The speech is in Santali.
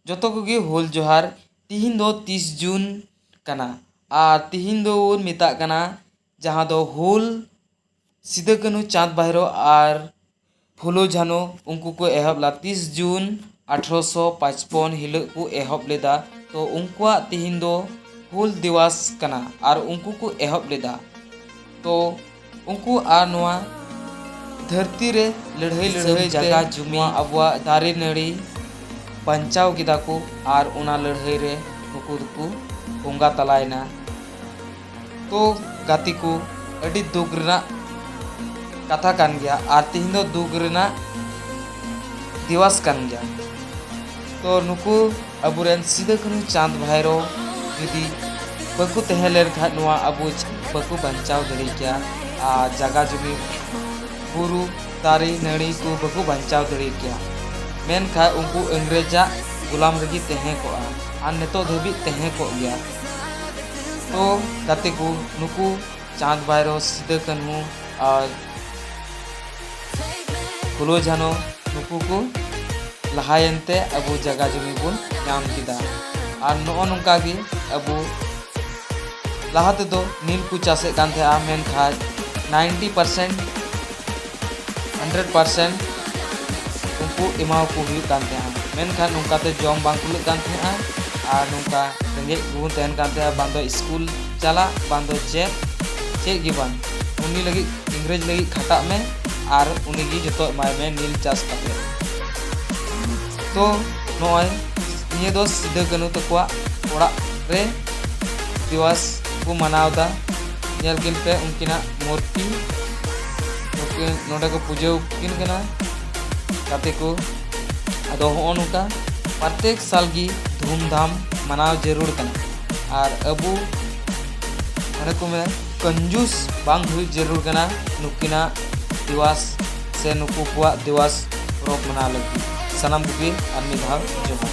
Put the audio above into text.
ᱡᱚᱛᱚ ᱠᱚᱜᱮ ᱦᱩᱞ ᱡᱚᱦᱟᱨ ᱛᱤᱦᱤᱧ ᱫᱚ ᱛᱤᱥ ᱡᱩᱱ ᱠᱟᱱᱟ ᱟᱨ ᱛᱤᱦᱤᱧ ᱫᱚᱵᱚᱱ ᱢᱮᱛᱟᱜ ᱠᱟᱱᱟ ᱡᱟᱦᱟᱸ ᱫᱚ ᱦᱩᱞ ᱥᱤᱫᱩ ᱠᱟᱹᱱᱦᱩ ᱪᱟᱸᱫᱽ ᱵᱷᱟᱭᱨᱳ ᱟᱨ ᱯᱷᱩᱞᱳ ᱡᱷᱟᱱᱳ ᱩᱱᱠᱩ ᱠᱚ ᱮᱦᱚᱵ ᱞᱮᱫᱟ ᱛᱤᱥ ᱡᱩᱱ ᱟᱴᱷᱨᱚᱥᱚ ᱯᱟᱸᱪᱯᱚᱱ ᱦᱤᱞᱳᱜ ᱠᱚ ᱮᱦᱚᱵ ᱞᱮᱫᱟ ᱛᱚ ᱩᱱᱠᱩᱣᱟᱜ ᱛᱤᱦᱤᱧ ᱫᱚ ᱦᱩᱞ ᱫᱤᱵᱚᱥ ᱠᱟᱱᱟ ᱟᱨ ᱩᱱᱠᱩ ᱠᱚ ᱮᱦᱚᱵ ᱞᱮᱫᱟ ᱛᱚ ᱩᱱᱠᱩ ᱟᱨ ᱱᱚᱣᱟ ᱫᱷᱟᱹᱨᱛᱤ ᱨᱮ ᱞᱟᱹᱲᱦᱟᱹᱭ ᱞᱟᱹᱲᱦᱟᱹᱭ ᱡᱟᱭᱜᱟ ᱡᱩᱢᱤ ᱟᱵᱚᱣᱟᱜ ᱫᱟᱨᱮ ᱱᱟᱹᱲᱤ ᱵᱟᱧᱪᱟᱣ ᱠᱮᱫᱟ ᱠᱚ ᱟᱨ ᱚᱱᱟ ᱞᱟᱹᱲᱦᱟᱹᱭ ᱨᱮ ᱱᱩᱠᱩ ᱫᱚᱠᱚ ᱵᱚᱸᱜᱟ ᱛᱟᱞᱟᱭᱮᱱᱟ ᱛᱚ ᱜᱟᱛᱮ ᱠᱚ ᱟᱹᱰᱤ ᱫᱩᱠ ᱨᱮᱱᱟᱜ ᱠᱟᱛᱷᱟ ᱠᱟᱱ ᱜᱮᱭᱟ ᱟᱨ ᱛᱮᱦᱮᱧ ᱫᱚ ᱫᱩᱠ ᱨᱮᱱᱟᱜ ᱫᱤᱣᱟᱥ ᱠᱟᱱ ᱜᱮᱭᱟ ᱛᱚ ᱱᱩᱠᱩ ᱟᱵᱚᱨᱮᱱ ᱥᱤᱫᱟᱹ ᱠᱟᱹᱱᱦᱩ ᱪᱟᱸᱫᱽ ᱵᱷᱟᱭᱨᱚ ᱡᱩᱫᱤ ᱵᱟᱠᱚ ᱛᱟᱦᱮᱸ ᱞᱮᱱᱠᱷᱟᱱ ᱱᱚᱣᱟ ᱟᱵᱚ ᱵᱟᱠᱚ ᱵᱟᱧᱪᱟᱣ ᱫᱟᱲᱮ ᱠᱮᱭᱟ ᱟᱨ ᱡᱟᱜᱟ ᱡᱩᱢᱤ ᱵᱩᱨᱩ ᱫᱟᱨᱮ ᱱᱟᱹᱲᱤ ᱠᱚ ᱵᱟᱠᱚ ᱵᱟᱧᱪᱟᱣ ᱫᱟᱲᱮ ᱠᱮᱭᱟ ᱢᱮᱱᱠᱷᱟᱱ ᱩᱱᱠᱩ ᱤᱝᱨᱮᱡᱟᱜ ᱜᱩᱞᱟᱢ ᱨᱮᱜᱮ ᱛᱟᱦᱮᱸ ᱠᱚᱜᱼᱟ ᱟᱨ ᱱᱤᱛᱚᱜ ᱫᱷᱟᱹᱵᱤᱡ ᱛᱟᱦᱮᱸ ᱠᱚᱜ ᱜᱮᱭᱟ ᱛᱚ ᱜᱟᱛᱮ ᱠᱚ ᱱᱩᱠᱩ ᱪᱟᱸᱫᱽ ᱵᱷᱟᱭᱨᱚ ᱥᱤᱫᱟᱹ ᱠᱟᱹᱱᱦᱩ ᱟᱨ ᱯᱷᱩᱞᱳ ᱡᱷᱟᱱᱚ ᱱᱩᱠᱩ ᱠᱚ ᱞᱟᱦᱟᱭᱮᱱ ᱛᱮ ᱟᱵᱚ ᱡᱟᱭᱜᱟ ᱡᱚᱢᱤ ᱵᱚᱱ ᱧᱟᱢ ᱠᱮᱫᱟ ᱟᱨ ᱱᱚᱜᱼᱚ ᱱᱚᱝᱠᱟ ᱜᱮ ᱟᱵᱚ ᱞᱟᱦᱟ ᱛᱮᱫᱚ ᱱᱤᱞ ᱠᱚ ᱪᱟᱥᱮᱫ ᱠᱟᱱ ᱛᱟᱦᱮᱸᱜᱼᱟ ᱢᱮᱱᱠᱷᱟᱱ ᱱᱟᱭᱤᱱᱴᱤ ᱯᱟᱨᱥᱮᱱᱴ 100% ᱩᱱᱠᱩ ᱮᱢᱟᱣ ᱠᱚ ᱦᱩᱭᱩᱜ ᱠᱟᱱ ᱛᱟᱦᱮᱸᱜᱼᱟ ᱢᱮᱱᱠᱷᱟᱱ ᱱᱚᱝᱠᱟ ᱛᱮ ᱡᱚᱢ ᱵᱟᱝ ᱠᱩᱞᱟᱹᱜ ᱠᱟᱱ ᱛᱟᱦᱮᱸᱜᱼᱟ ᱟᱨ ᱱᱚᱝᱠᱟ ᱨᱮᱸᱜᱮᱡ ᱵᱚᱱ ᱛᱟᱦᱮᱱ ᱠᱟᱱ ᱛᱟᱦᱮᱸᱜᱼᱟ ᱵᱟᱝ ᱫᱚ ᱥᱠᱩᱞ ᱪᱟᱞᱟᱜ ᱵᱟᱝ ᱫᱚ ᱪᱮᱫ ᱪᱮᱫ ᱜᱮ ᱵᱟᱝ ᱩᱱᱤ ᱞᱟᱹᱜᱤᱫ ᱤᱝᱨᱮᱡᱽ ᱞᱟᱹᱜᱤᱫ ᱠᱷᱟᱴᱟᱜ ᱢᱮ ᱟᱨ ᱩᱱᱤ ᱜᱮ ᱡᱚᱛᱚ ᱮᱢᱟᱭ ᱢᱮ ᱱᱤᱞ ᱪᱟᱥ ᱠᱟᱛᱮ ᱛᱚ ᱱᱚᱜᱼᱚᱭ ᱱᱤᱭᱟᱹ ᱫᱚ ᱥᱤᱫᱟᱹ ᱠᱟᱹᱱᱩ ᱛᱟᱠᱚᱣᱟᱜ ᱚᱲᱟᱜ ᱨᱮ ᱫᱤᱣᱟᱥ ᱠᱚ ᱢᱟᱱᱟᱣᱫᱟ ᱧᱮᱞ ᱠᱤᱱ ᱯᱮ ᱩᱱᱠᱤᱱᱟᱜ ᱢᱩᱨᱛᱤ ᱱᱩᱠᱤᱱ ᱱᱚᱰᱮ ᱠᱚ ᱯᱩᱡᱟᱹ ᱠᱤᱱ ᱠᱟᱱᱟ ᱜᱟᱛᱮ ᱠᱚ ᱟᱫᱚ ᱦᱚᱸᱜᱼᱚ ᱱᱚᱝᱠᱟ ᱯᱨᱚᱛᱮᱠ ᱥᱟᱞ ᱜᱮ ᱫᱷᱩᱢᱫᱷᱟᱢ ᱢᱟᱱᱟᱣ ᱡᱟᱹᱨᱩᱲ ᱠᱟᱱᱟ ᱟᱨ ᱟᱵᱚ ᱚᱱᱮ ᱠᱚ ᱢᱮᱱᱟ ᱠᱚᱱᱡᱩᱥ ᱵᱟᱝ ᱦᱩᱭ ᱡᱟᱹᱨᱩᱲ ᱠᱟᱱᱟ ᱱᱩᱠᱤᱱᱟᱜ ᱫᱤᱣᱟᱥ ᱥᱮ ᱱᱩᱠᱩ ᱠᱚᱣᱟᱜ ᱫᱤᱣᱟᱥ ᱯᱚᱨᱚᱵᱽ ᱢᱟᱱᱟᱣ ᱞᱟᱹᱜᱤᱫ ᱥᱟᱱᱟᱢ ᱠᱚᱜᱮ ᱟᱨ ᱢᱤᱫ ᱫᱷᱟᱣ ᱡᱚᱦᱟᱨ